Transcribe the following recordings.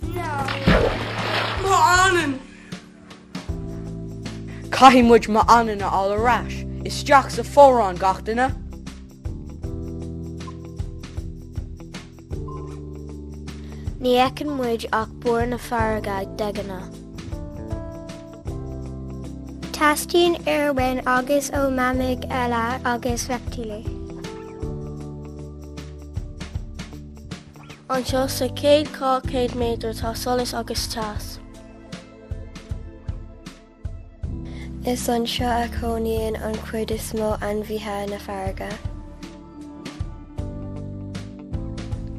No. Mo anonn! Caithfidh muid mo anlann a fháil ar ais isteach sa fomhuireán gach duine. Ní fheiceann muid ach barr na farraige de ghnáth. Teastaíonn aer uainn agus ó mhamaigh eile agus reiptílí. Anseo sa chéad dhá chéad méadar tá solas agus teas. Is anseo a chónaíonn an chuid is mó ainmhithe na farraige.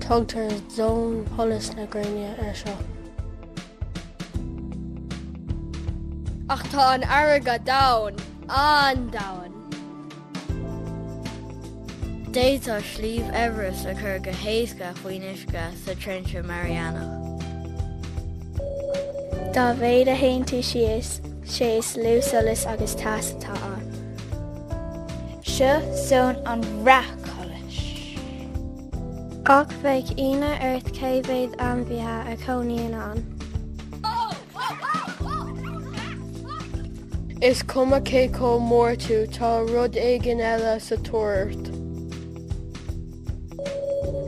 Tugtar zón sholas na gréine ar seo. Ach tá an fharraige domhain, an-domhain. D'fhéadfá Sliabh Everest a chur go héasca faoin uisce sa Trinse Mariana. Dá mhéad a théann tú síos, sé is lú solas agus teas atá ann. Seo zón an bhreacsholas. Ach bheadh ionadh ort cé mhéad ainmhithe a chónaíonn ann. Is cuma cé chomh mór tú, tá rud éigin eile sa tóir ort.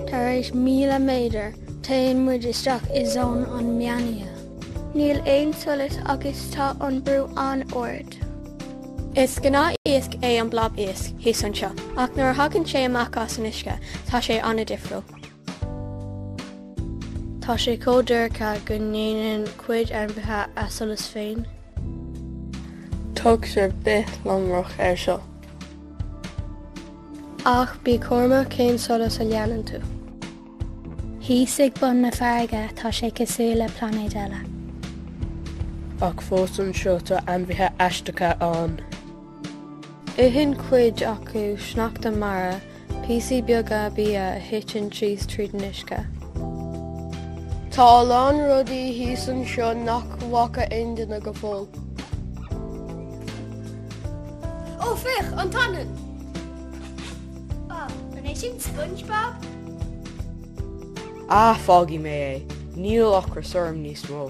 Tar éis míle méadar, téann muid isteach i zón an meánoíche. Níl aon solas agus tá an brú an-ard. Is gnáth-iasc é an Blob Iasc thíos anseo, ach nuair a thagann sé amach as an uisce, tá sé an-difriúil. Tá sé chomh dorcha go ndéanann cuid ainmhithe a solas féin. Tugtar bithlonrach ar seo. Ach bí cúramach cén solas a leanann tú. Thíos ag bun na farraige tá sé cosúil le plainéad eile. Ach fós anseo tá ainmhithe aisteacha ann. Itheann cuid acu sneachta mara, píosaí beaga bia a thiteann síos tríd an uisce. Tá a lán rudaí thíos anseo nach bhfaca aon duine go fóill. Ó, féach, an t-anlann! Á, an é sin Spongebob? Á, fágfaidh mé é, níl ocras orm níos mó.